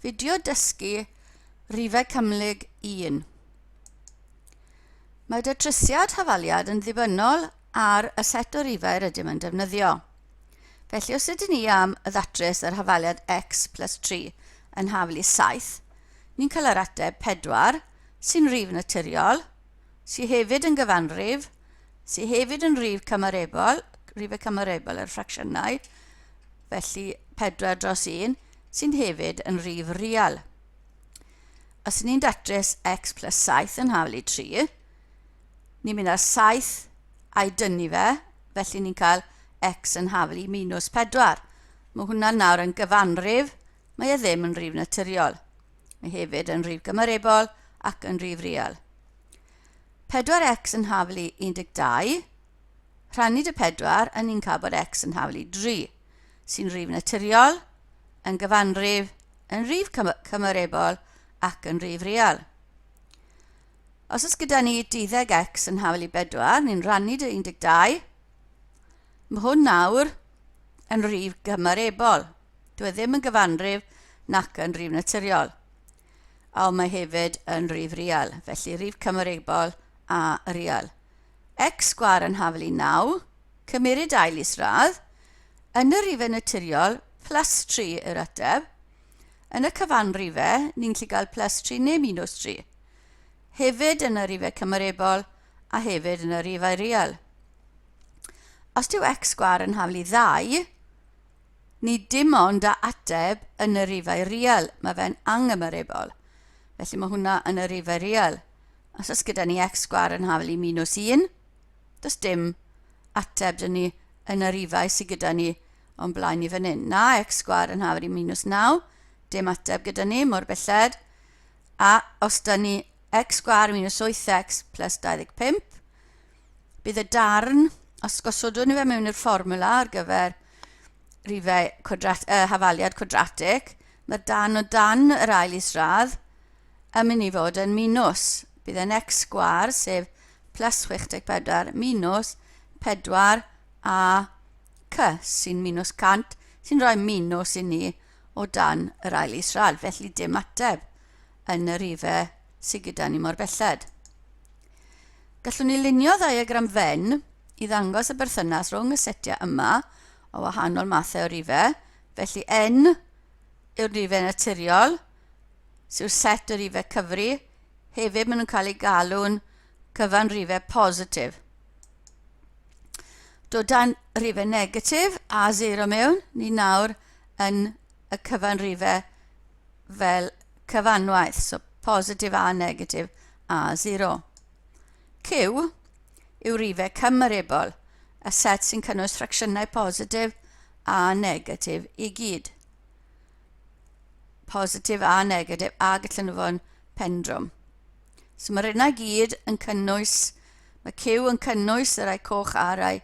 Fideo dysgu rhifau cymhlyg 1. Mae datrysiad hafaliad yn ddibynnol ar y set o rifau rydym yn defnyddio. Felly os ydyn ni am y ddatrys yr hafaliad x plus 3 yn haflu 7, ni'n cael yr ateb 4, sy'n rif naturiol, sy hefyd yn gyfanrif, sy hefyd yn rif cymarebol, rifau cymarebol ar ffracsiynau, felly 4 dros 1, sy'n hefyd yn rif real. Os ni'n datrys x plus 7 yn hafel i 3, ni'n mynd â'r 7 a'i dynnu fe, felly ni'n cael x yn hafel i minus 4. Mae hwnna nawr yn gyfanrif Mae e ddim yn rif naturiol. Mae hefyd yn rif gymarebol ac yn rif real. 4x yn haflu 12, rhannu dy 4 yn ni'n cael bod x yn haflu 3, sy'n rif naturiol, yn gyfanrif, yn rif cymarebol ac yn rif real. Os oes gyda ni 12 x yn haflu 4, ni'n rhannu dy 12, Mae hwn nawr yn rif gymarebol. Dwi e ddim yn gyfanrif nac yn rif naturiol. A ond mae hefyd yn rif real, felly rif cymarebol a real. X sgwar yn hafel i 9, cymeryd ail isradd, yn y rifau naturiol, plus 3 yr ateb. Yn y cyfanrifau, ni'n gallu cael plus 3 neu minus 3. Hefyd yn y rifau cymarebol a hefyd yn y rifau real. Os dyw x sgwâr yn haflu ddau, ni dim ond a ateb yn y rifau rial, mae fe'n angymyribol. Felly mae hwnna yn y rifau rial. Os oes gyda ni x sgwâr yn haflu minus 1, does dim ateb dyn ni yn y rifau sydd gyda ni o'n blaen ni fan hyn. Na, x sgwar yn hafri minus 9, dim ateb gyda ni, mor belled. A os da ni x sgwar minus 8x plus 25, bydd y darn, os gosodwn ni fe mewn i'r fformwla ar gyfer rifau cwadrat, uh, hafaliad cwadratig, mae'r dan o dan yr ail isradd yn mynd i fod yn minus. Bydd yn x sgwar, sef plus 64 minus 4 a c sy'n minus 100, sy'n rhoi minus i ni o dan yr ail isradd, felly dim ateb yn yr rifau sydd gyda ni mor belled. Gallwn ni lunio ddiagram Venn i ddangos y berthynas rhwng y setiau yma o wahanol mathau o rifau, felly N yw'r rifau naturiol, sy'n set o rifau cyfri, hefyd maen nhw'n cael eu galw'n cyfan rifau positif. Dodan rifau negatif a zero mewn, ni nawr yn y cyfan rifau fel cyfanwaith, so positif a negatif, a sero. Cyw yw rifau cymmyribol, y set sy'n cynnwys ffracsiynau positif a negatif i gyd. Positif a negatif a gallan nhw fod yn pendrwm. So mae'r unau gyd yn cynnwys, mae cyw yn cynnwys y rai coch a rai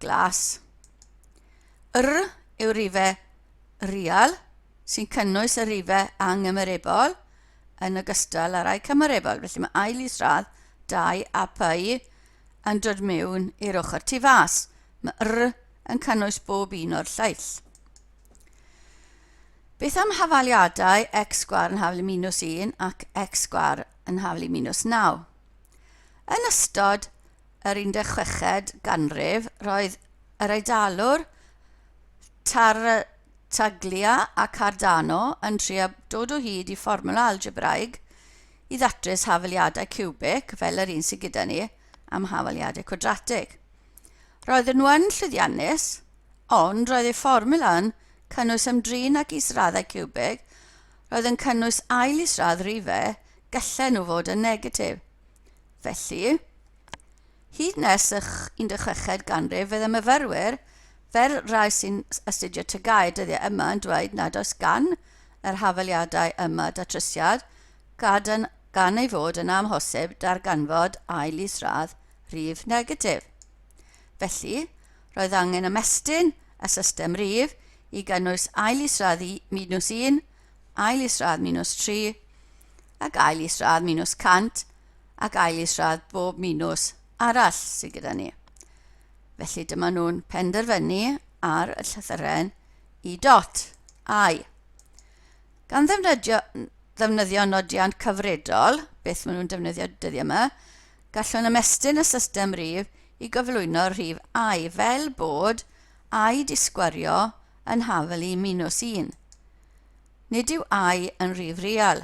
glas. Yr yw rifau real sy'n cynnwys y rifau angymeribol, yn ogystal â rhai cymarebol, felly mae ail isradd, dau a py yn dod mewn i'r ochr tu fas. Mae r yn cynnwys bob un o'r lleill. Beth am hafaliadau x sgwar yn haflu minus 1 ac x sgwar yn haflu minus 9? Yn ystod yr 16 ganrif, roedd yr Eidalwr Tar Taglia a Cardano yn trio dod o hyd i fformwla algebraig i ddatrys hafaliadau ciwbic fel yr un sydd gyda ni am hafaliadau cwadratig. Roedden nhw yn llwyddiannus, ond roedd eu fformwla yn cynnwys ymdrin ag israddau ciwbig, roedd yn cynnwys ail isradd rife, gyllen nhw fod yn negatif. Felly, Hyd nes y 16fed ganrif bydd y myfyrwyr, fel rhai sy'n astudio TGAU y dyddiau yma, yn dweud nad oes gan yr hafaliadau yma datrysiad, gadwn gan ei fod yn amhosib darganfod ail isradd rif negatif. Felly, roedd angen ymestyn y system rif i gynnwys ail isradd minws 1, ail isradd minws 3 ac ail isradd minws 100 ac ail isradd bob minws arall sydd gyda ni. Felly dyma nhw'n penderfynu ar y llythyren i dot, ai. Gan ddefnyddio, ddefnyddio nodiant cyfredol, beth maen nhw'n defnyddio dyddiau yma, gallwn ymestyn y system rif i gyflwyno rhif ai fel bod ai disgwario yn hafel i minws 1. Nid yw ai yn rhif real.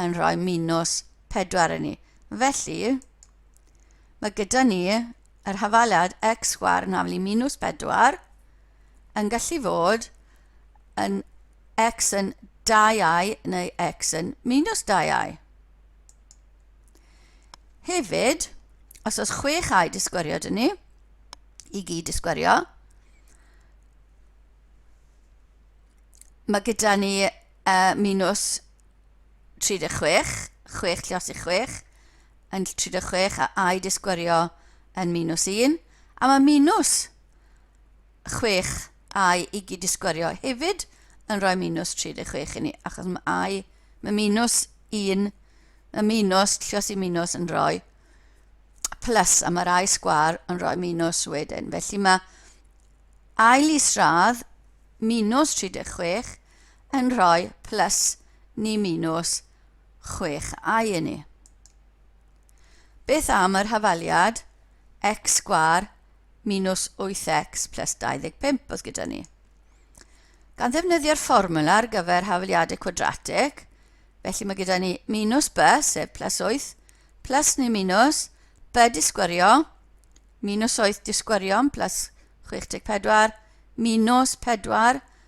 yn rhoi minws 4 i ni. Felly, mae gyda ni yr hafaliad x sgwar yn haflu minws 4 yn gallu fod yn x yn 2i neu x yn minus 2i. Hefyd, os oes 6i disgwyrio dyn ni, i gyd disgwyrio, mae gyda ni Y minws 36, chwech llios i chwech, yn 36 a a'i disgwyrio yn minws 1, a mae minws 6 a'i i gyd disgwyrio hefyd yn rhoi minws 36 i ni, achos mae a'i, mae minws 1, y minws, llios i minws yn rhoi plus, a mae'r a'i sgwar yn rhoi minws wedyn. Felly mae ail isradd minws 36 yn rhoi plus ni minws 6 i i ni. Beth am yr hafaliad x sgwar minws 8x plus 25 oedd gyda ni? Gan ddefnyddio'r fformwla ar gyfer hafaliadau cwadratig, felly mae gyda ni minus b, sef plus 8, plus neu minus, b disgwyrio, minus 8 disgwyrio, plus 64, minus 4,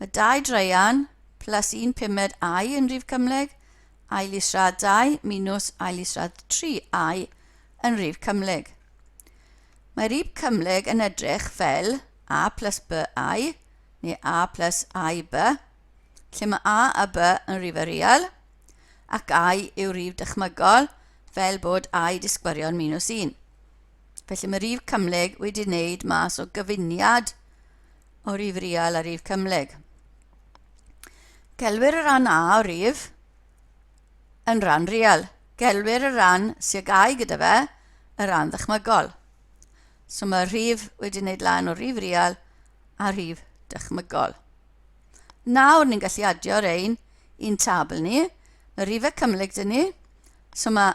Mae dau draean, plus un pumed I yn rhif cymhlyg, ail isradd 2 minus ail isradd 3 I yn rhif cymhlyg. Mae rhif cymhlyg yn edrych fel A plus B I, neu A plus I B, lle mae A a B yn rhifau real, ac I yw rhif dychmygol, fel bod I disgwarion minus 1. Felly mae rhif cymhlyg wedi wneud mas o gyfuniad o rif real a rif cymhlyg. Gelwir y ran A o rif yn ran real. Gelwir y ran sy'n gau gyda fe y ran ddychmygol. So mae'r rhif wedi wneud lan o rif real a rhif dychmygol. Nawr ni'n gallu adio ein i'n tabl ni. Mae rifau cymhlyg dyn ni. So mae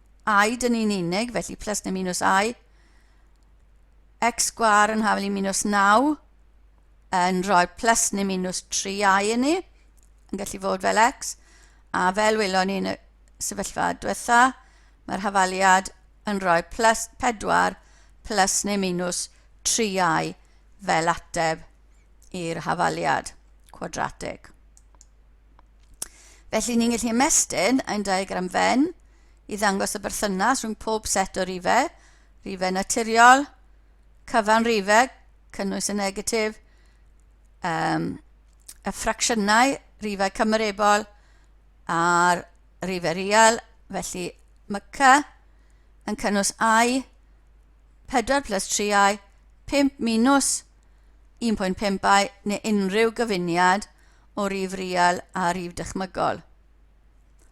i, dyn ni'n unig, felly plus neu minus i. x sgwar yn hafel i minus 9 yn rhoi plus neu minus 3i i ni, yn gallu fod fel x, a fel welon ni yn y sefyllfa diwetha, mae'r hafaliad yn rhoi plus 4 plus neu minus 3i fel ateb i'r hafaliad cwadratig. Felly ni'n gallu ymestyn ein diagram fen i ddangos y berthynas rhwng pob set o rifau, rifau naturiol, cyfan rifau, cynnwys y negatif, um, y ffracsiynau, rifau cymerebol a'r rifau real, felly mae cy yn cynnwys i 4 plus 3i 5 minus 1.5i neu unrhyw gyfuniad o rif real a rif dychmygol.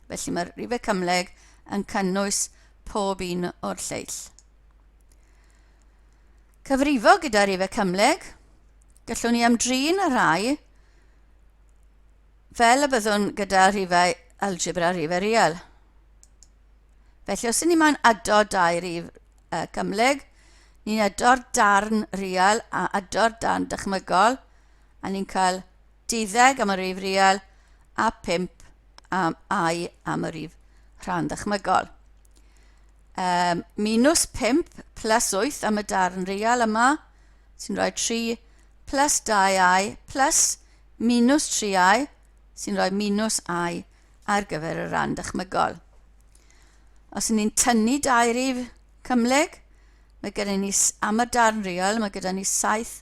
Felly mae'r rifau cymhleg yn cynnwys pob un o'r lleill. Cyfrifo gyda rifau cymhleg, gallwn ni ymdrin â rhai fel y byddwn gyda rifau algebra a rifau real. Felly os ydyn ni moyn addo dau rif uh, cymhleg, ni'n ado'r darn real a ado'r darn dychmygol a ni'n cael deuddeg am y rif real a 5 am i am y rif rhan ddychmygol. Um, minus 5 plus 8 am y darn real yma, sy'n rhoi 3 plus 2i plus minus 3i, sy'n rhoi minus i ar gyfer y rhan dychmygol. Os ni'n tynnu dau rif cymleg, mae gyda ni am y darn real, mae gyda ni 7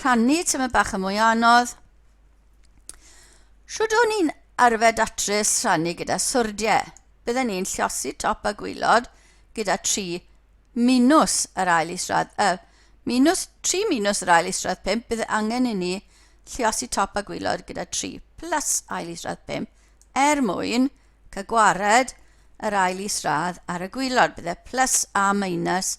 rhannu tymed bach yn mwy anodd. Shwd o'n i'n arfer datrys rhannu gyda swrdiau? Bydden ni'n llosi top a gwylod gyda tri minws yr ail isradd, y minws, tri minws yr ail isradd pump, bydd angen i ni llosi top a gwylod gyda tri plus ail isradd pump er mwyn cael gwared yr ail isradd ar y gwylod. Bydde plus a minus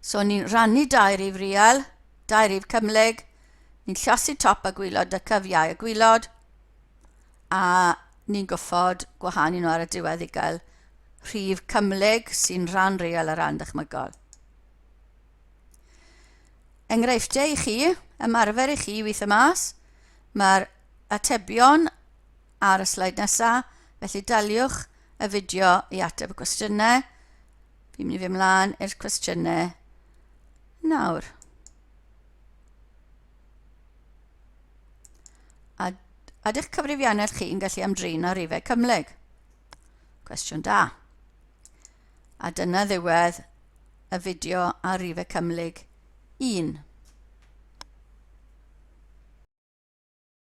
So ni'n rannu dau rif riel, dau rif cymhlyg, ni'n llasu top a gwylod y cyfiau y gwylod, a ni'n goffod gwahanu nhw ar y diwedd i gael rhif cymhlyg sy'n rhan real a rhan dychmygol. Enghreifftiau i chi, ymarfer i chi weithio mas, mae'r atebion ar y sleid nesaf, felly daliwch y fideo i ateb y cwestiynau. Fi'n mynd i fy mlaen i'r cwestiynau nawr. A, a dych cyfrifiannell chi'n gallu ymdrin â rifau cymleg? Cwestiwn da. A dyna ddiwedd y fideo ar rifau cymhlyg 1.